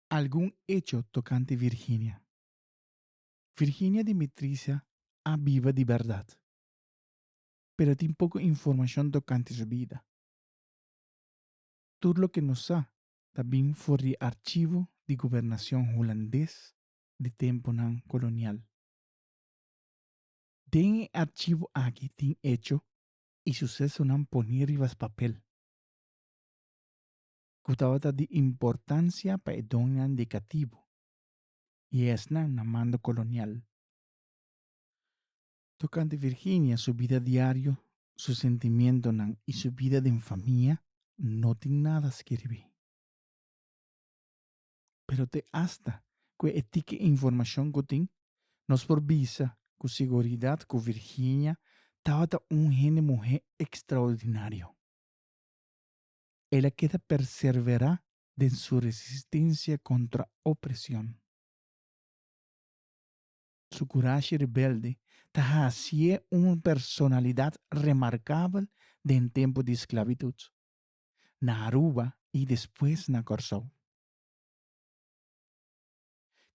Algun echo tokante Virginia. Virginia Dimitricia a biba di bèrdat, pero tin poko informashon tokante su bida. Tur loke nos sa ta bin for di archivo di gobernashon hulandes di tempunan kolonial. Den e archivo aki tin echo i susesonan pone riba spapel. ku tabata di importansia pa e doñonan di katibu i esnan na mando kolonial. Tokante Virginia su bida diario, su sentimientonan i su bida den famia no tin nada skirbi. Pero te asta ku e tiki informashon ku tin, nos por bisa ku seguridat ku Virginia tabata un hende muhé ekstraordinario. el a keda perserverá den su resistensia kontra opresion. Su kurashi rebelde ta hasié un personalidat remarkabel den tempu di sklabitut, na Aruba i despues na Kòrsou.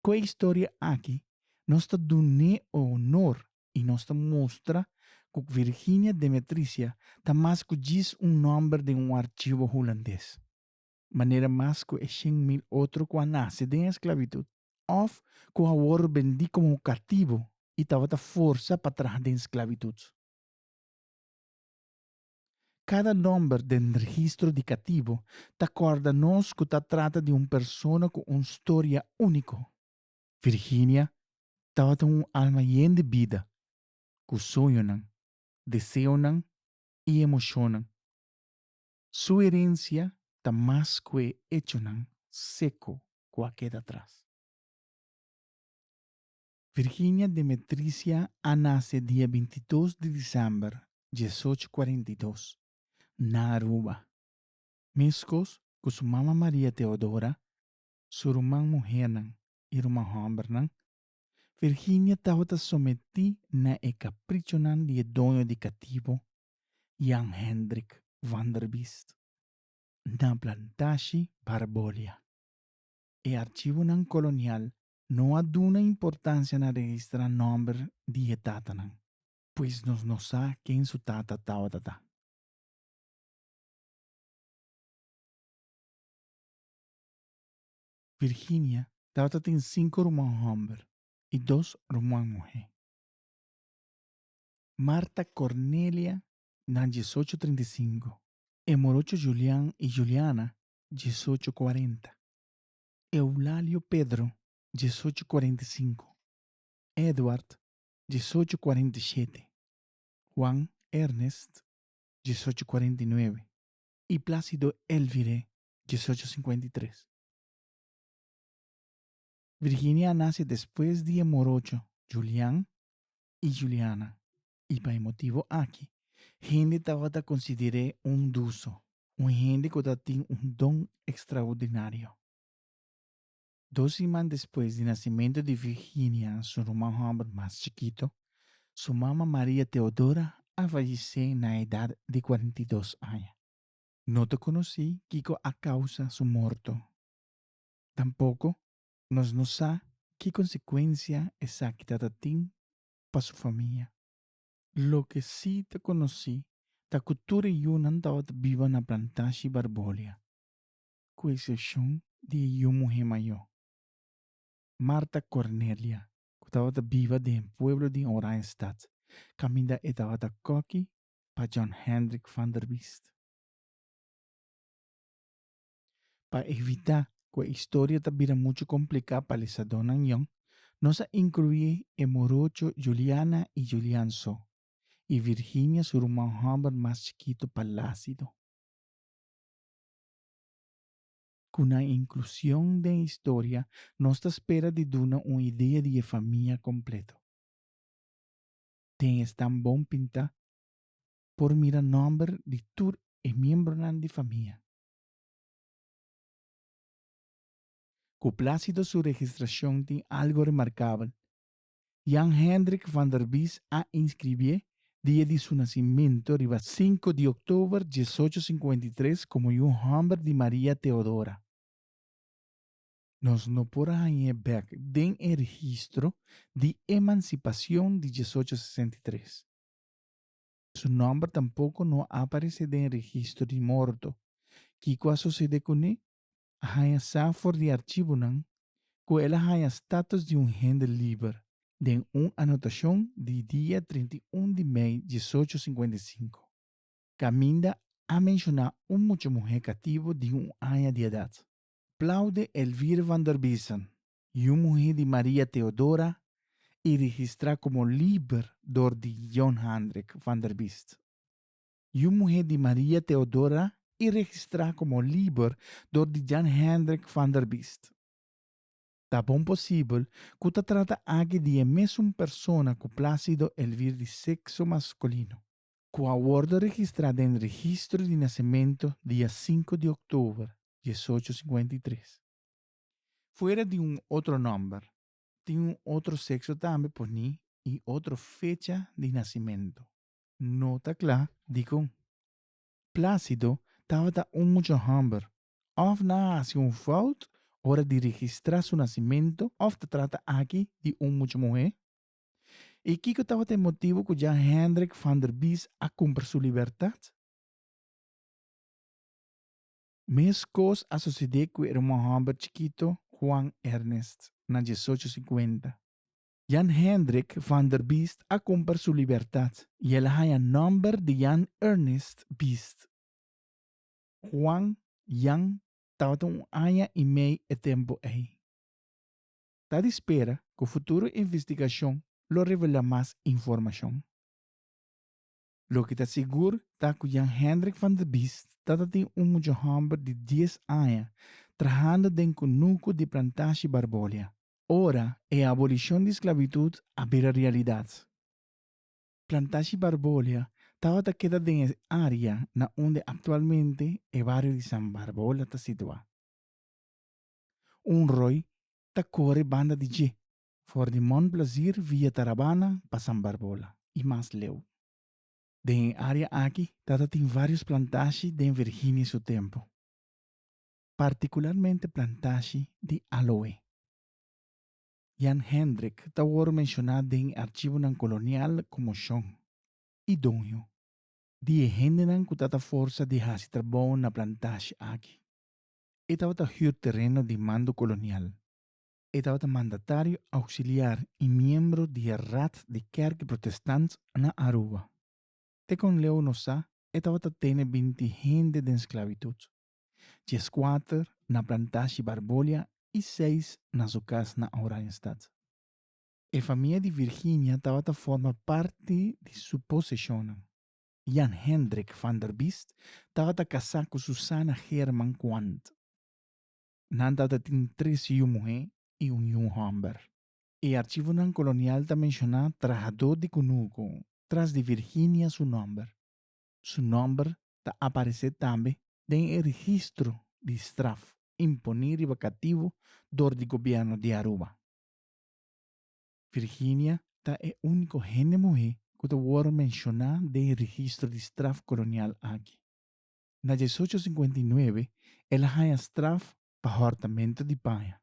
Ku e historia aki nos ta dun'é onor i nos ta mustra ku Virginia Demetrisia ta mas ku djis un nòmber den un archivo hulandes, manera mas ku e shen mil otro ku a nase den esklabitut òf ku a wòrdu bendí komo katibu i tabata forsa pa traha den sklabitut. Kada nòmber den registro di katibu ta kòrda nos ku ta trata di un persona ku un storia úniko. Virginia tabata un alma yen di bida, ku sueñonan, deseonan i emoshonnan. Su herensia ta mas ku e echonan seko ku a keda atras. Virginia Demetricia a nase dia binti dos di disember diesocho kuarenta i dos, na Aruba. Meskos ku su mama Maria Teodora, su ruman muhernan i ruman hòmbernan, Virginia tabata sometí na e kaprichonan di e doño di katibo, Jan Hendrik Vanderbiest, na plantashi Barbolia. E archivonan kolonial no a duna importancia na registra nomber di e tatanan, pues nos no sa ken su tata tabata ta. Virginia tabata tin cinco ruman homber y dos ruman muhe. Marta Cornelia na diesocho trinta y cinco, e morocho Julian y Juliana diesocho cuarenta. Eulalio Pedro, diesocho cuarenta y cinco, Edward, diesocho cuarenta y shete, Juan Ernest, diesocho cuarenta y nuebe, y Plácido Elvire, diesocho cincuenta y tres. Virginia a nace despues di e morocho Julian y Juliana. I pa e motibu aki hende tabata konsider'é un duso, un hende ku ta tin un don ekstraordinario. Dos siman despues di nasimentu di Virginia, su ruman hòmber mas chikitu, su mama Maria Teodora a fallisé na edat di kuarenta i dos aña. No ta konosí kiko a kousa su morto. Tampoko nos no sa ki konsekuensia esaki tabata tin pa su famia. Loke si ta konosí ta ku tur e yunan tabata biba na plantashi Barbolia, ku eksepshon di e yu muhé mayó, Marta Cornelia, ku tabata biba den e pueblo di Oranjestad, kaminda e tabata koki pa Jan Hendrik van der Vist. Pa evitá ku e historia ta bira muchu kompliká pa lesadónan yon, nos a inkluí e morocho Juliana i Julian so, i Virginia su ruman hòmber mas chikitu Plácido. Ku nan inklusion den e historia nos ta spera di duna un idea di e famia kompleto. Den e stam bon pintá por mira nòmber di tur e miembronan di famia. Cu Plácido su registracion tin algo remarcabel. Jan Hendrik van der Bies a inscribié dia di su nacimento riba sinku di october diesocho sinkuenta i tres como un homber di Maria Teodora. Nos no por a hañ'é bek den e registro di emancipacion di diesocho sesenta i tres. Su nòmber tampoko no a aparesé den registro di morto. Kiko a sosede kuné? A haña sa for di archibonan ku el a haña status di un hende liber den un anotashon di dia trinta i un di mei diesocho sinkuenta i sinku, kaminda a menshoná un mucha muhé kativo di un aña di edat. Plaude Elvire van der Biesen, yu muhé di Maria Theodora i registrá komo liber dor di Jon Handrik van der Biest. Yu muhé di Maria Theodora i registrá komo liber dor di Jan Hendrik van der Biest. Ta bon posibel ku ta trata aki di e mesun persona ku Plácido Elvir di sekso maskulino, ku a wòrdu registrá den registro di nasementu dia sinku di òktober diesocho singenta i tres, Fuera di un otro nòmber, tin un otro sekso tambe poní i otro fecha di nasimentu. No ta kla dikon Plásido tabata un mucha hòmber, òf nan a hasi un fout ora di registrá su nasimentu òf ta trata aki di un mucha muhé. I kiko tabata e motibu ku Jan Hendrik van der Bies a kumpra su libertat? Meskos a sosede ku e ermon hòmber chikito Juan Ernest na diesocho sinkuenta. Jan Hendrik van der Biest a kumper su libertat i el a haña nòmber di Jan Ernest Biest. Juan, Jan, tabata un aña i mei e tempu ei. Ta di spera ku futuro investigashon lo revelá mas informashon. Loke ta sigur ta ku Jan Hendrik van der Biest tatatin un mucha hòmber di dies aña trahando den kunuku di Plantashi Barbolia. Ora e abolishon di sklavitut a bira realidat, Plantashi Barbolia tabata keda den e área na unda aktualmente e bario di San Barbola ta situá. Un ròi ta kore banda di dje For di Mont Blazir via Tarabana pa San Barbola y mas leu. Den e area aki tata tin varios plantashi den Virginia su tempo, particularmente plantashi di aloe. Jan Hendrik ta wor menciona den e archivonan colonial como Shon y doño di e hendenan cu tata forsa di haci trabou na plantashi aki. E tabata huur tereno di mando colonial. E tabata mandatario auxiliar i miembro di e Raad di Kerk Protestant na Aruba. Te kon Leo nos sa, e tabata tene binti hende den sklabitut, dieskuater na plantashi Barbolia i seis na su kas na Oranjestad. E famia di Virginia tabata forma parti di su poseshonnan. Jan Hendrik van der Biest tabata kasá ku Susanna Geerman Quandt. nan tatatin tris yu muhé i un yu hòmber. E archivonan kolonial ta menshoná trahadó di kunuku tras di Virginia su nòmber. Su nòmber ta aparesé tambe den e registro di straf imponí riba kativo dor di gobièrnu di Aruba. Virginia ta e úniko hende muhé ku ta wòrdu menshoná den e registro di straf kolonial aki. na diesocho sinkuenta i nuebe el a haña straf pa hòrtamentu di paña.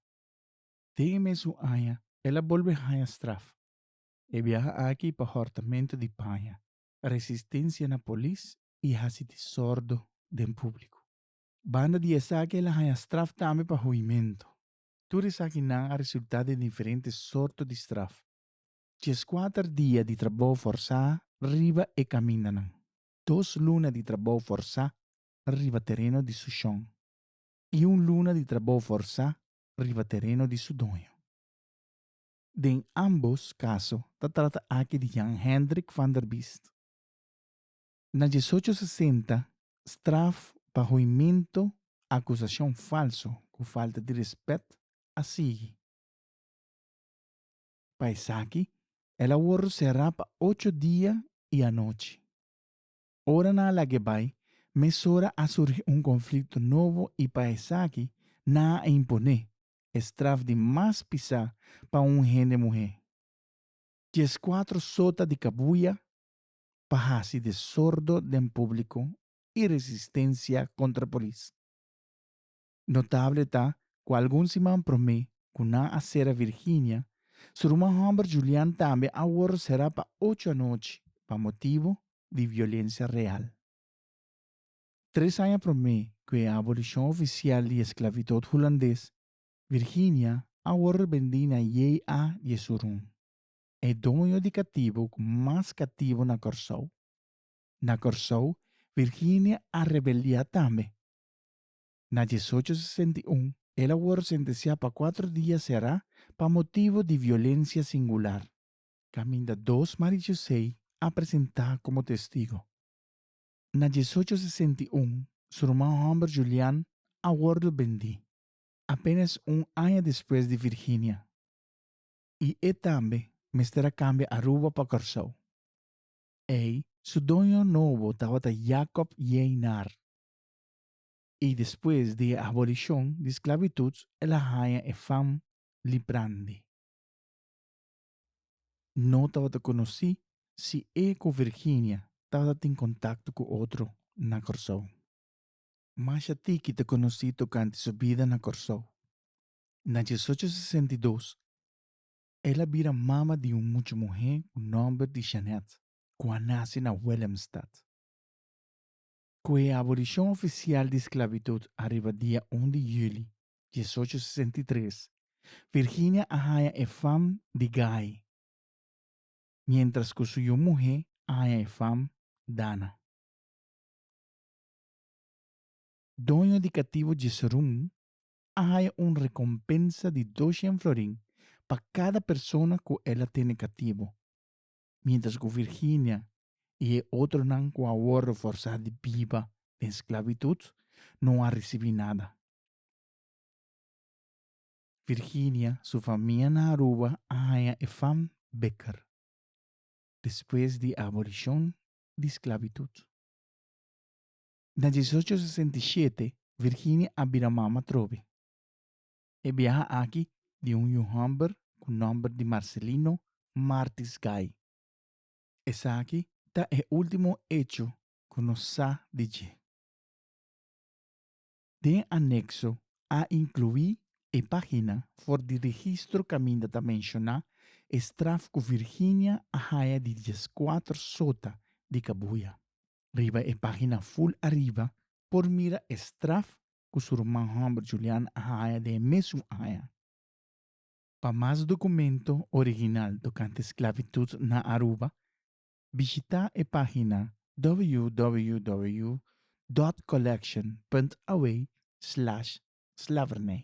Den e mesun aña el a bolbe haña straf, e biaha aki pa hòrtamentu di paña, resistensia na polis i hasi disordo den públiku. Banda di esaki el a haña straf tambe pa huimentu. Tur esakinan a resultá den diferente sorto di straf. Dieskuater dia di trabou forsá riba e kamindanan. dos luna di trabou forsá riba tereno di su shon i un luna di trabou forsá riba tereno di su doño. Den ámbos kaso ta trata aki di Jan Hendrik van der Biest. Na diesocho sesenta, straf pa hoimentu akusashon falso ku falta di rèspèt a sigui. Pa esaki, el a wòrdu será pa ocho dia i anochi. Ora nan a lag'é bai, mesora a surgi un konflikto nobo i pa esaki nan a imponé e straf di mas pisá pa un hende muhé, dies kuatro sota di kabuya pa hasi desordo den públiko i resistensia kontra polis. Notable ta cu algun siman prome cu nan a cera Virginia, su ruman homber Julian tambe a worde cera pa ocho anochi pa motibo di violencia real. Tres aña prome cu e abolicion oficial di e sclavitud Hulandes, Virginia a worde bendi na JA di e surun, e doño di catibo cu mas catibo na Corsou. Na Corsou, Virginia a rebeldia tambe. Na diesocho sesenta i un, el a wòrdu sentensiá pa kuater dia será pa motibu di violensia singular. Kaminda dos Mari Josei a presentá komo testigu. Na diesocho sesenta i un, su ruman hòmber Julian a wòrdu bendí, apénas un aña despues di Virginia, i e tambe mester a kambia Aruba pa Kòrsou. Ei su doño nobo tabata Jacob Jeinar. i despues di e abolishon di sklabitut el a haña e fam li prandi. No tabata konosí si e ku Virginia tabata tin kontakto ku otro na Kòrsou. Masha tiki ta konosí tokante su bida na Kòrsou. Na diesocho sesenta i dos, el a bira mama di un mucha muhé ku nòmber di Jeanette, ku a nase na Willemstad. Ku e abolishon ofisial di sklabitut ariba dia un di juli diesocho sesenta i tres, Virginia a haña e fam di Guy, miéntras ku su yu muhé a haña e fam Dana. Doño di katibu Jesurún a haña un rekompensa di dos shen florin pa kada persona ku el a tene katibu. mientras cu Virginia y e otronan cu a wordo forsá di biba den sclavitud no a ricibi nada. Virginia su famia na Aruba a haña e fam beker despues di abolicion di sclavitud. Na diesocho sesenta i shete Virginia a bira mama trobe. E biaha aki di un yu hòmber ku nòmber di Marcelino Martis Gay. Esaki ta e último echo ku nos sa di dje. Den anekso a inkluí e página for di registro kaminda ta menshoná e straf ku Virginia a haña di dieskuater sota di kabuya. Riba e página ful ariba por mira e straf ku su ruman hòmber Julian a haña den e mes un aña. Pa mas dokumento original tokante sklavitut na Aruba, bishitá e página www.collection.away slash slavernij.